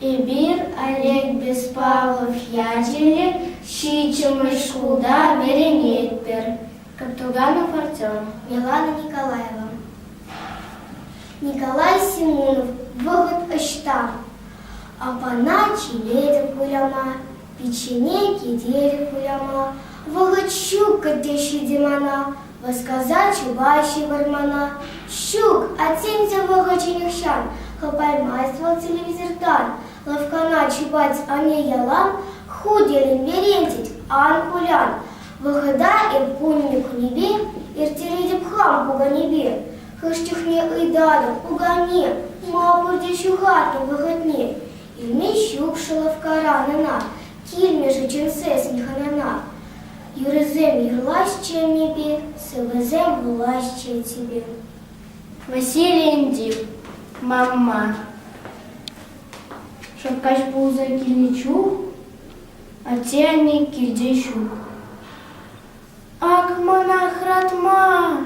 Эпир Олег Беспалов ячӗллӗ ҫиччӗмӗш шкулта вӗренетпӗр. Каптуганов Артем, Милана Николаева. Николай Семенов вӑхӑт ӑҫта? Апана чӗнетӗп выляма, Пиччене кителӗк уяма вӑхӑт ҫук кӗтсе ҫитӗ мана, васкаса чупа ҫывӑр мана. Ҫук, атьсен вӑхӑчӗ нихҫан хӑпаймасть вӑл телевизортан. Лавккана чупать анне ялан, ху терӗн верентет, ан кулян. Вӑхӑта эп кунӗ-кунӗпе ирттеретӗп хам пуканепе. Хӑш чухне ыйтатӑп, пукане, ма пурте ҫухатнӑ вӑхӑтне? Илмен ҫук шӑлӑвккаран ӑна, килмӗ-ши чӗнсессӗн хӑнана? Юрӑсем юрлаҫҫӗ ӗнепе, сӑвӑсем вулаҫҫӗ типӗ. Василий инди, Мамма. Шаккаҫ пулса килнӗ чух атте-анне килте ҫук. Ак манах ратма!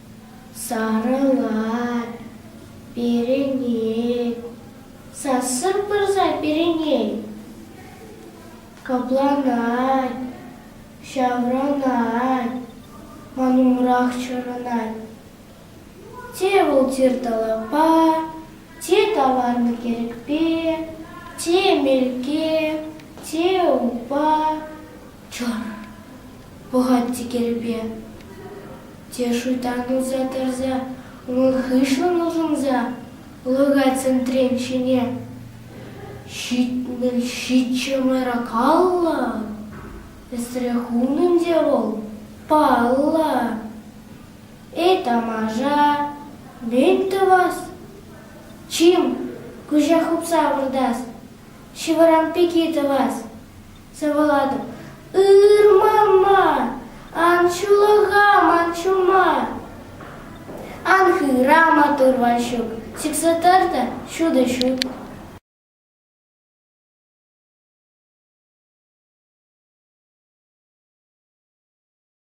Сарӑлать перӗнет, сассӑр пырса перӗнет. Капланать, ҫаврӑнать, ман умрах чарӑнать. Те вӑл тир талапа, те таварнӑ кирӗкпе, те мелке, те упа, Чӑн, пӑхать текелпе, те шуйттан утса тӑрса унӑн хыҫлӑн улшӑнса лӑкать сентрен ҫине. Ҫитмӗл ҫиччӗ мӑйракаллӑ, эсрех унӑн те вӑл, паллӑ. Эй, тамаша, мӗн тӑвас? Чим, куҫа хупса выртас, ҫывӑрам пики тӑвас. Сывӑлатӑм, ырма ман, ан ҫулӑха ман ҫума. Ан хыра матур Ваҫук, сиксе тӑр та ҫутӑ ҫут.